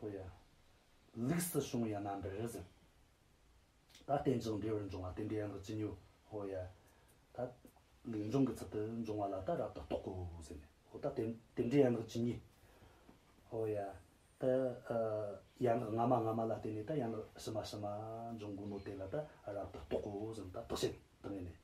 ཧོ་ཡ། ལིགས་སི་ཤོང་ཡ་ན་འདྲ་རེད་ཟེར། ད་བརྟན་ཅིང་འབྲེལ་བར་འབྱུང་བ་དེ་འདྲའི་ཡང་དུ་ཅི་ཉོ། ཧོ་ཡ། ད། ལིགས་འབྱུང་གི་ཚུལ་དུ་འབྱུང་བ་ལ་ད་རབ་ཏུ་རྟོག་གོ་ཟེར་ནས། ཧོ་ད་དེ་དེ་འདྲའི་ཡང་དུ་ཅི་ཉོ། ཧོ་ཡ། ད། ཡང་དུ་སྔ་མ་སྔ་མ་ལ་བརྟེན་ནས་ད་ཡང་དུ་ཕྱི་མ་ཕྱི་མ་འབྱུང་དགོས་མོད་དེ་ལ་ད་རབ་ཏུ་རྟོག་གོ་ཟེར་ནས་ད་རྟོག་བྱེད་དུ་ངེས་ནས།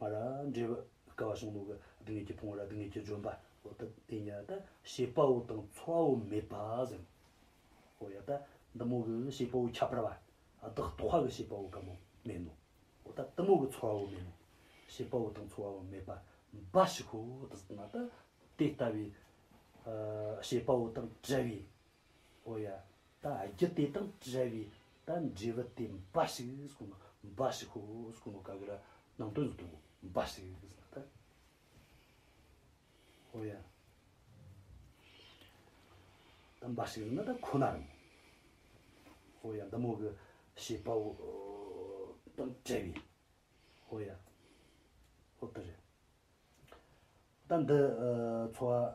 ང་ལ་འབྲེལ་བའི་སྐལ་བ་ཞིང་ལུགས་ཀྱི་སྡུག་བསྔལ་གྱི་ཕུང་བོ་ལ་སྡུག་བསྔལ་གྱི་ལྗོན་པ་འོ་ད་དེ་ཉིད་ད་ཤེས་པ་བོ་དང་ཚོར་བ་བོ་མེད་པ་ཟིན། འོ་ཡ་ད་འདི་མོ་གི་ཤེས་པ་བོ་ཁྱད་པར་བ་བདག་རྟོག་བྷ་གི་ཤེས་པ་བོ་གམ་བོ་མེད་ནོ། འོ་ད་དེ་མོ་གི་ཚོར་བ་བོ་མེད་ནོ། ཤེས་པ་བོ་དང་ཚོར་བ་བོ་མེད་པ་འབའ་ཞིག་གོ། དེ་ལྟ་ན་ད་དེ་ལྟ་བུའི་ཤེས་པ་བོ་དང་བྲལ་བའི། ཨོ་ཡ། ད་རྒྱུ་དེ་དང་བྲལ་བའི་ད་འབྲས་བུ་དེ་འབའ་ཞིག་གོ་ནོ། འབའ་ཞིག་ཧོ་གོ་ནོ་ག་གི་ར་ནང་དོན་བཟོ་དོ་འབའ་ཞིག་ཟེར་ན་ད། ཨོ་ཡ། ད་འབའ་ཞིག་ཟེར་ན་ད་ཁོ་ན་རང་ངོ། ཨོ་ཡ་འདི་མོ་གི་ཤེས་པའོ། དང་བྲལ་བའི། ཨོ་ཡ། ཨོ་དེ་རེད། ད་འདི། འཚོ་བ།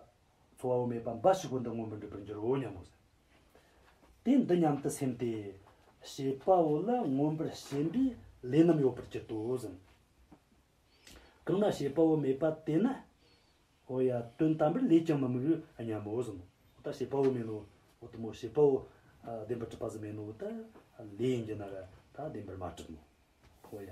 འཚོ་བ་བོ་མེད་པ་འབའ་ཞིག་གོ་འདི་སྔོན་པོ་འགྲུབ་པར་འགྱུར་རོ་སྙམ་མོ། དེ་འདི་སྙམ་དུ་སེམས་ཏེ། བྱེད་པ་བོ་ལ་མངོན་པར་ཞེན་པའི་ལས་རྣམས་ཡོད་པར་གྱུར་ཏོ། གང་ན་བྱེད་པ་བོ་མེད་པ་དེ་ན། འོ་ཡ། དོན་དམ་པར་ལས་ཀྱང་མི་དམིགས་རོ་སྙམ་མོ། འོ་ད་བྱེད་པ་བོ་མེད་ནོ། འོ་ད་མོ་བྱེད་པ་བོ། བདེན་པར་གྲུབ་པ་ཟིན་མེད་ནོ། འོ་ད། ལས་ཡིན་གྱི་ན་ར། ད་བདེན་པར་མ་གྲུབ་མོ། འོ་ཡ།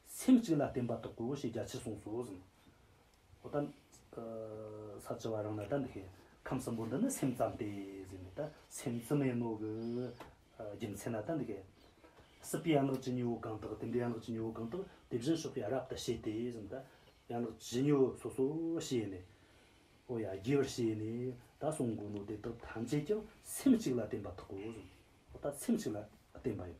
སེམས་གཅིག་ལ་བརྟེན་པ་དག་གོ་ཞེས་རྒྱ་ཆེར་གསུངས་སོ། ཨོ་ད། ས་བཅུ་བ་རང་ན་ད་འདི་ཤེས། ཁམས་གསུམ་པོ་འདི་ནི་སེམས་ཙམ་སྟེ། ད་སེམས་བཙུན་མའི་རྣོ་གི། རྒྱུ་མཚན་ན་ད་འདི་ཤེས། སྲིད་པའི་ཡན་ལག་ཇི་སྙེད་བོ་གང་དག་དེ་འདྲའི་ཡན་ལག་ཇི་སྙེད་བོ་གང་དག་དེ་བཞིན་གཤེགས་པས་རབ་ཏུ་ཤེས་ཏེ། ད་ཡན་ལག་ཇི་སྙེད་བོ་སོ་སོ་ཤེས་ནས། ཨོ་ཡ་རྒྱས་པར་ཤེས་ནས་ད་གསུང་དགོས་ནོ་དེ་དག་ཐམས་ཅད་ཀྱང་སེམས་གཅིག་ལ་བརྟེན་པ་དག་གོ། ཨོ་ད་སེམས་གཅིག་ལ་བརྟེན་པ་ཡང།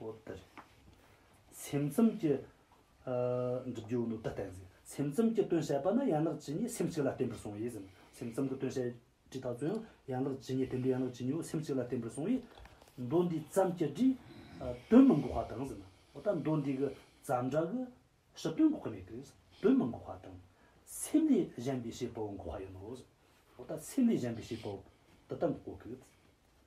ཨོ་དེར། སེམས་ཙམ་གྱི། འགྲུབ་རྒྱུའོ་ནོ་དེ་བསྟན། སེམས་ཙམ་གྱི་དོན་བྱེད་པ་ནི་ཡན་ལག་ཇི་སྙེད་སེམས་གཅིག་ལ་བརྟེན་པར་གསུངས་ཡིན་ཟིན། སེམས་ཙམ་གྱི་དོན་བྱེད་བྲིས་དག་ཚུལ་ཡང་ཡན་ལག་ཇི་སྙེད་དེ་འདྲའི་ཡན་ལག་ཇི་སྙེད་བ་སེམས་གཅིག་ལ་བརྟེན་པར་གསུངས་ཡིན། མདོ་འདི་ཙམ་གྱི་བྲིས། དོན་མི་འགོག་བ་དང་ཟིན། འོ་ད་མདོ་འདི་གི་ཙམ་སྒྲ་གི། ཞི་དོན་འགོག་གི་མེད་པས། དོན་མི་འགོག་བ་དང། སེམས་ལས་གཞན་པའི་བྱེད་པའོ་འགོག་བ་ཡིན་ནོ། འོ་ད་སེམས་ལས་གཞན་པའི་བྱེད་པའོ། འདི་ལྟར་འགོག་གི།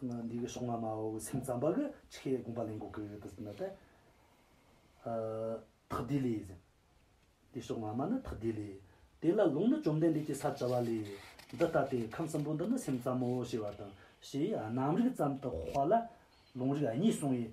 འདི་གི་ཤོག་ང་མའོ་བའི་སེམས་ཙམ་པ་གི་ཆི་ཁའི་དགོངས་པ་ལེན་དགོས་ཀི་དི་ཟིན་ན་ཏེ། ཐག་དེ་ལས་ཟིན། འདི་ཤོག་ང་མ་ནི་ཐག་དེ་ལས། དེ་ལ་ལུང་ནི་བཅོམ་ལྡན་འདས་ཀྱིས་ས་བཅའ་བ་ལས། འདི་ལྟ་སྟེ་ཁམས་གསུམ་པོ་འདི་ནི་སེམས་ཙམ་མོ་ཞེས་པ་དང། ཞེས་རྣམ་རིག་ཙམ་དུ་དཔགས་ལ། ལུང་རིགས་གཉིས་གསུངས་བས་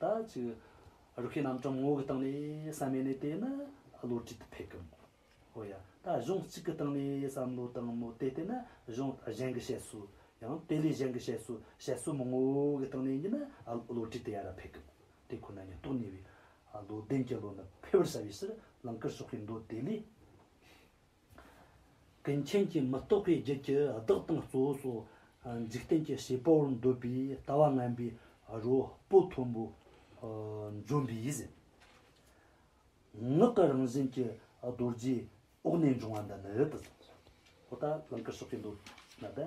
ད་ཅི། རུ་ཁའི་རྣམ་གྲངས་ངོ་བོའི་སྟེང་ནས་བསམ་ཡས་ནས་བལྟས་ན་བློ་གྲོས་དེ་ཕེབས་ཀྱི་མོད། ཨོ་ཡ། ད་གཞུང་གཅིག་གི་སྟེང་ནས་བསམ་བློ་དང་མོ་བལྟས་བལྟས་ན་གཞུང་གཞན་གྱི་བཤད་སྲོལ། ཡང་དེ་ལས་གཞན་གྱི་བཤད་སྲོལ་བཤད་སྲོལ་མོ་ངོ་བོའི་སྟེང་ནས་ཉིད་ན་བློ་གྲོས་དེ་ཡར་ར་ཕེབས་ཀྱི་མོད། དེ་ཁོ་ན་ཉིད་རྟོགས་ནུས་པའི། བློ་ལྡན་གྱི་བློ་ནི་འཕེལ་བར་བྱ་བའི་ཕྱིར་ལང་ཀར་ཕྱོགས་པའི་མདོ་དེ་ལས། ཀུན་མཁྱེན་གྱིས་མི་རྟོག་པའི་རྒྱུད་ཀྱི་བདག་དང་གཙོ་བོ་སོགས་འཇིག་རྟེན་གྱི་བྱེད་པ་བོར་འདོད་པའི་ལྟ་བ་ངན་པའི་རོ་སྤུ་མཐོན་པོ་འཇོམས་པའི་ཡིད་བཞིན་ངག་གི་རང་བཞིན་གྱི་རྡོ་རྗེའི་འོག་ནས་འབྱུང་བ་འདི་ནི།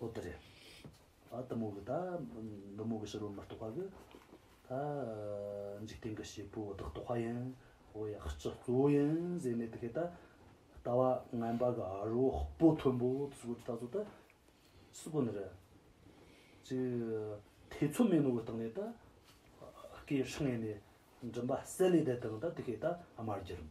ཨོ་དེ་རེད། ཨ་ཏི་མོ་གི་ད་འབུམ་མོ་གི་ཕྱི་རོལ་མི་རྟོགས་པ་གི། ད་འཇིག་རྟེན་གི་བྱེད་པོ་བདག་རྟོགས་པ་ཡིན། ཨོ་ཡ་སྤྱི་གཙོ་བོ་ཡིན་ཟེར་ནས་དེ་གས་ད་ལྟ་བ་ངན་པ་གི་ཨ་རོ་སྤོ་མཐོན་པོ་ཚུ་གུ་དེ་ད་གཟོད་ད་སུ་གི་ནི་རེད། ཅི་ཐེ་ཚོམ་མེད་ནོ་གི་སྟེང་ནས་ད་སྐད་ཧྲིང་ངེ་ནས་མགྲིན་པ་གསལ་ལེ་བསྡད་དང་ད་དེ་གས་ད་དམར་རྒྱུ་རུམ།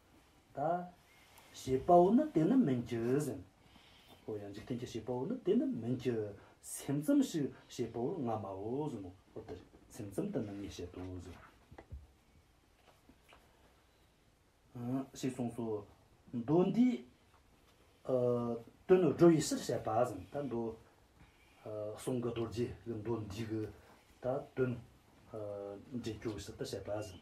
ད། ཞེས་པའོ་ན་དེ་ནི་མིན་གྱི། ཟིན། ཧོ་ཡང་འཇིག་རྟེན་གྱི་ཞེས་པའོ་ན་དེ་ནི་མིན་གྱི། སེམས་ཙམ་ཞིག་ཞེས་པའོ་ང་མའོ་ཟིན་ནོ། ཧོ་དེར་སེམས་ཙམ་དུ་ནི་ངས་བཤད་དོ་ཟིན། ཞེས་གསུངས་སོ། མདོ་འདིའི། དོན་ནི་སྒྲོ་ཡི་ཕྱིར་བཤད་པ་ཟིན་ད་མདོ། གསུང་གི་རྡོ་རྗེ་གི་མདོ་འདི་གི། ད་དོན། འབྲས་སྐྱོ་བའི་ཕྱིར་དུ་བཤད་པ་ཟིན།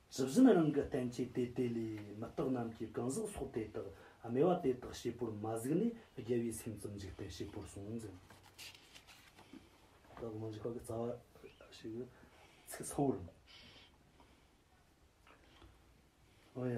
ཇི་བཞིན་རང་གི་བསྟན་བཅོས་དེ་དེ་ལས་མི་རྟག་རྣམས་ཀྱི་གང་ཟག་སོགས་དེ་དག་སྨྲས་པ་དེ་དག་བྱེད་པོར་མ་གཟིགས་ནས་རྒྱལ་བའི་སེམས་ཙམ་འཇིག་རྟེན་བྱེད་པོར་སོང་ཟིན། བདག་མི་འཇིགས་པ་གི་རྩ་བ། ཞེས་པའི་ཚིག་ཚ་བོ་རུ་འདུག་ཡ།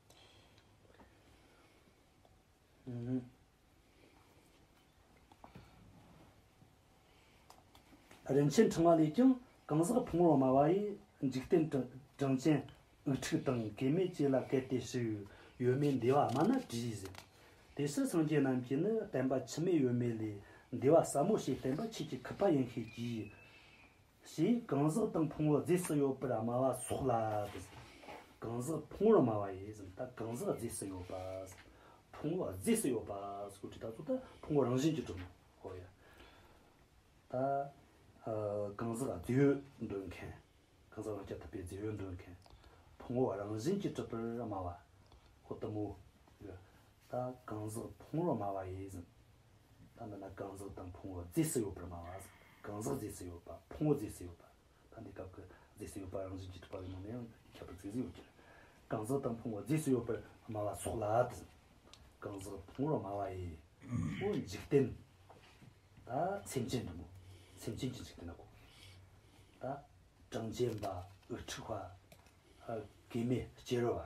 རིན་ཆེན་འཕྲེང་བ་ལས་ཀྱང་གང་ཟག་ཕུང་བོ་སྨྲ་བ་ཡི་འཇིག་རྟེན་དྲིན་ཅན་འུག་ཁྲུག་དང་སྐལ་མེད་བཅས་ལ་གལ་ཏེ་ཞིག་ཡོད་མེད་འདས་བ་སྨྲ་ན་དྲིས་ཟིན། དེ་སྲིད་སངས་རྒྱས་རྣམས་ཀྱིས་ནི་བསྟན་པ་ཕྱི་མའི་ཡོད་མེད་ལས་འདས་བ་ཟབ་མོ་ཞིག་བསྟན་པ་ཁྱེད་ཀྱི་ཁུ་བ་ཡིན་ཤེས་ཀྱིས། ཞེས་གང་ཟག་དང་ཕུང་བོ་རྫས་སུ་ཡོད་པར་སྨྲ་བ་སོགས་ལ་དེ་སྲིད་གང་ཟག་ཕུང་བོར་སྨྲ་བ་ཡིན་ཟིན་ད་གང་ཟག་རྫས་སུ་ཡོད་པ། ཕུང་བོ་རྫས་སུ་ཡོད་པ་སོགས་དྲི་རྟགས་སུ་ད་ཕུང་བོ་རང་བཞིན་གྱིས་གྲུབ་མོད་ཧོ་ཡ། ད་གང་ཟག་རྫས་ཡོད་འདོད་མཁན། གང་ཟག་རང་སྐྱ་ཐུབ་པའི་རྫས་ཡོད་འདོད་མཁན། ཕུང་བོ་རང་བཞིན་གྱིས་གྲུབ་པར་སྨྲ་བ། ཧོ་ཏུ་མོ་ཡ། ད་གང་ཟག་ཕུང་བོར་སྨྲ་བ་ཡིན་ཟིན། ད་འདི་ན་གང་ཟག་དང་ཕུང་བོ་རྫས་སུ་ཡོད་པར་སྨྲ་བ། གང་ཟག་རྫས་སུ་ཡོད་པ་ཕུང་བོ་རྫས་སུ་ཡོད་པ། ད་འདི་སྐབས་ཀྱི་རྫས་སུ་ཡོད་པ་རང་བཞིན་གྱིས་གྲུབ་པ་ཡིན་ནོ་ནི་ཡང་ཁྱད་པར་ཚིག་ཟིན་ཡོད་ཀྱི། གང་ཟག་དང་ཕུང་བོ་རྫས་སུ་ཡོད་པར་སྨྲ་བ་སོགས་ལ་དང། གང་ཟག་ཕུང་བོར་སྨྲ་བ་ཡི། པོ་འཇིག་རྟེན། ད་སེམས་ཅན་འབྲིང་པོ་སེམས་ཅན་གྱི་འཇིག་རྟེན་ན་གོ། ད། གྲངས་ཅན་པ་འུ་ཕྲུག་བ། སྐྱེ་མེད་སྐྱེ་རུ་བ།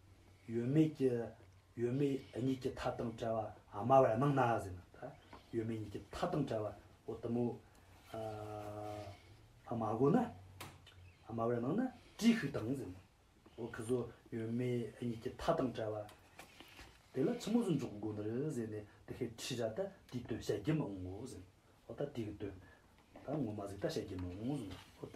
ཡོད་མེད་ཀྱི་ཡོད་མེད་གཉིས་ཀྱི་མཐའ་དང་བྲལ་བ་སྨྲ་བར་གནང་ན་ཟེར་ན། ཡོད་མེད་གཉིས་ཀྱི་མཐའ་དང་བྲལ་བ་འོ་ད་མོ། མ་གོ་ན། སྨྲ་བར་གནང་ན་ཅི་ཞིག་དང་ཟེར་ན། འོ་ཁི་ཟོ་ཡོད་མེད་གཉིས་ཀྱི་མཐའ་དང་བྲལ་བ། དེ་ལ་ཕྱི་མོ་ཟུར་འཇོག་དགོས་ནི་རེད་ཟེར་ནས་དེ་ཧེ་ཁྲི་ར་ད་དེའི་དོན་བཤད་རྒྱུ་མི་འོང་ངོ་ཟེར་ན། འོ་ད་དེའི་དོན་ད་ངོ་མ་ཟིག་ད་བཤད་རྒྱུ་མི་འོང་ཟེར་ན་འོ་ད།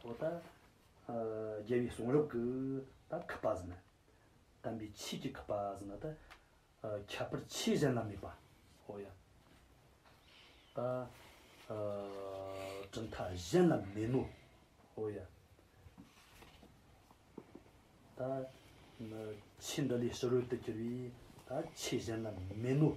ཐོག་ཏུ། རྒྱལ་བའི་གསུང་རབ་ཀྱི་དང་ཁ་པཱ་ཟི་ན། དམ་པའི་ཆོས་ཀྱི་ཁ་པཱ་ཟི་ན་ཏི། ཁྱད་པར་ཆོས་གཞན་ལ་མེད་པ། ཧོ་ཡ། ད། གྲུབ་མཐའ་གཞན་ལ་མེད་མོད། ཧོ་ཡ། ད། ཕྱིས་འདི་ལས་ཕྱི་རོལ་ཏུ་གྱུར་པའི། ད་ཆོས་གཞན་ལ་མེད་མོད།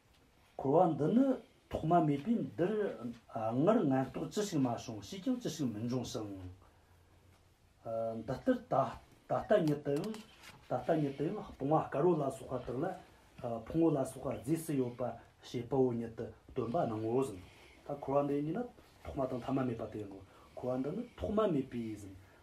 འཁོར་བ་འདི་ནི་ཐོག་མ་མེད་པས་འདིར་སྔར་ངན་རྟོག་ཅི་ཞིག་མ་བྱུང་ཕྱིས་ཀྱང་ཅི་ཞིག་མི་འབྱུང་ཞིང། འདི་ལྟར་ད་ལྟ་ཉིད་དུའང་ད་ལྟ་ཉིད་དུའང་སྤོང་བ་དཀར་བོ་ལ་སོགས་པ་དག་ལ་ཕུང་བོ་ལ་སོགས་པ་རྫས་སུ་ཡོད་པ་ཞེས་དཔའ་བོ་ཉིད་དུ་སྟོན་པ་རྣམས་ངོ་བོ་ཟིན། ད་འཁོར་བ་འདི་ཉིད་ནི་ཐོག་མ་དང་ཐ་མ་མེད་པ་དེ་ཡིན་ནོ། འཁོར་བ་འདི་ནི་ཐོག་མ་མེད་པས་ཟིན།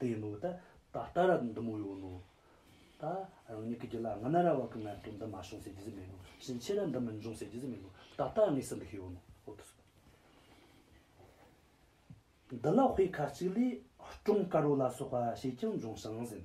དེ་ནོ། ད་ལྟ་ར་འདི་མོ་ཡོད་ནོ། ད་རང་ཉིད་ཀྱི་རྒྱུད་ལ་སྔ་ན་ར་བ་གི་ངལ་དུབ་འདི་མ་བྱུང་ཟེར་རྒྱུ་ཟིག་མེད་ནོ། ཕྱིན་ཆད་ར་འདི་མི་འབྱུང་ཟེར་རྒྱུ་ཟིག་མེད་ནོ། ད་ལྟ་དངོས་གསལ་འདི་ཤི་ཡོད་ནོ། འོ་ཐུགས་སུ་བསྟན། འདི་ལ་དཔེ་ཁ་ཅིག་ལས། སྐྲུངས་དཀར་བོ་ལ་སོགས་པ་ཞིག་ཀྱང་འབྱུང་ཞིང་ཟིན།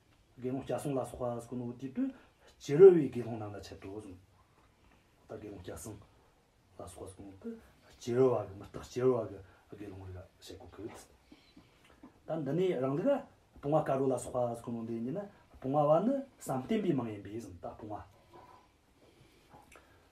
དགེ་སློང་སྐྱ་སྲུང་ལ་སོགས་པ་ཀུན་ནོ་དེ་དུས་ཕྱི་རོལ་བའི་དགེ་སློང་རྣམས་ལ་འཆད་དོ། དགེ་སློང་སྐྱ་སྲུང་ལ་སོགས་པ་ཀུན་ནོ་དེ་ཕྱི་རོལ་བ་གི་མི་རྟག་ཕྱི་རོལ་བ་གི་དགེ་སློང་རིག་ལ་བྱེད་དགོས་ཀྱི། ད་འདི་ནས་རང་ལུགས་ལ་སྤོང་བ་དཀའ་བྲོ་ལ་སོགས་པ་ཀུན་ནོ་འདི་གཉིས་ནི་སྤོང་བ་བ་ནི་བསམ་གཏན་པའི་མིང་ཡིན་པས་བཟང་དག་སྤོང་བ།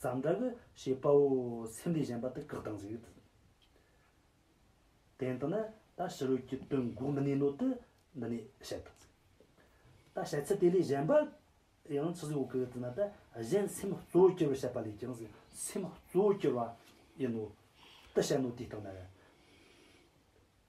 ཙམ་དྲག་གི་ཞེས་དཔའ་བོ་སེམས་ལས་གཞན་པ་དུ་བཀག་དང་གཟིགས། དེང་དུ་ན་ད་ཕྱི་རོལ་གྱི་དོན་འགོག་མི་ནུས་ནོ་དུ་འདི་ནས་བཤད་དང་གཟིགས། ད་བཤད་ཚུལ་དེ་ལས་གཞན་པ་ཡང་ཚིག་གཟིགས་འོག་གི་དུ་ན་ད་གཞན་སེམས་གཙོ་བོ་སྐྱེ་བར་བཤད་པ་ལས་ཀྱང་གཟིགས་སེམས་གཙོ་བོ་སྐྱེ་བ་ཡིན་ནོ་དུ་བཤད་ནོ་དེ་ལྟར་ན།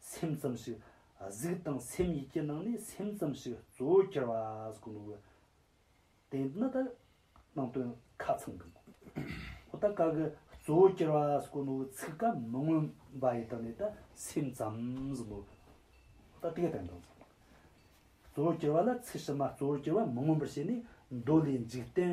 སེམས་ཙམ་ཞིག་གཟིགས་དང་སེམས་ཡིད་ཀྱི་ནང་ནས་སེམས་ཙམ་ཞིག་གཙོ་བོར་གྱུར་པ་གོ་ནུས། དེ་ནི་ད་ནང་དོན་ཁ་ཚང་གི་མགོ་བོ་ད་ག་གི་གཙོ་བོར་གྱུར་པ་གོ་ནུས་ཚིག་ཀ་མི་མངོན་པ་ཡི་དོན་ནི་ད་སེམས་ཙམ་ཟིན་མོད། ད་དེ་ག་དོན་དང། གཙོ་བོར་གྱུར་པ་ལ་ཚིག་ཕྱི་མ་གཙོ་བོར་གྱུར་པ་མི་མངོན་པར་བྱས་ནས་མདོ་ལས་འཇིག་རྟེན་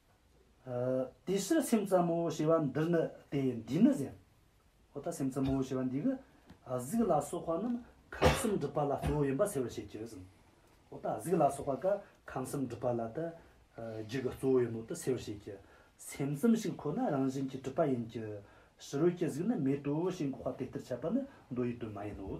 དེ་ཕྱིར་སེམས་ཙམ་མོ་ཞེས་པ་འདིར་ནི་དེ་འདི་ནི་ཟེར། འོ་ད་སེམས་ཙམ་མོ་ཞེས་པ་འདི་གི་གཟུགས་ལ་སོགས་པ་རྣམས་ཁམས་གསུམ་སྒྲིབ་པ་ལ་གཙོ་བོ་ཡིན་པར་ཟེར་བར་བྱེད་ཀྱི། འོ་ད་གཟུགས་ལ་སོགས་པ་ཀ་ཁམས་གསུམ་སྒྲིབ་པ་ལ་ད་རྒྱུ་གི་གཙོ་བོ་ཡིན་ནོ་ད་ཟེར་བར་བྱེད་ཀྱི། སེམས་ཙམ་ཞིག་ཁོ་ན་རང་བཞིན་གྱིས་གྲུབ་པ་ཡིན་གྱི། ཕྱི་རོལ་གྱི་གཟུགས་ནི་མེད་དོ་ཞེས་འགོག་པ་དེ་ལྟར་འཆད་པ་ནི་མདོ་ཡི་དོན་མ་ཡིན་ནོ།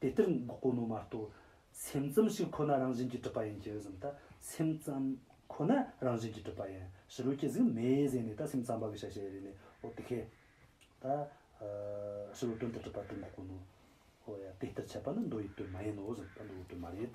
དེ་ལྟར་འགོག་གོ་ནོ་མ་གཏོགས། སེམས་ཙམ་ཞིག་ཁོ་ན་རང་བཞིན་གྱིས་གྲུབ་པ་ཡིན་གྱི་གཟིམ་ད་སེམས་ཙམ་ཁོ་ན་རང་བཞིན་གྱིས་གྲུབ་པ་ཡིན་ཞེས་རུས་ཀྱི་གཟིགས་མེད་གཟིགས་ནས་ད་སེམས་ཙམ་པ་གི་ཤ་ཤེད་རིག་ནས་ཨོ་དེ་ཁས། ད་ཕྱི་རོལ་དོན་དུ་གྲུབ་པ་དེ་འགོག་གོ་ནོ། ཨོ་ཡ་དེ་ལྟར་འཆད་པ་ནི་མདོ་ཡི་དོན་མ་ཡིན་ནོ་གཟིམ་ད་མདོ་ཡི་དོན་མ་རེད།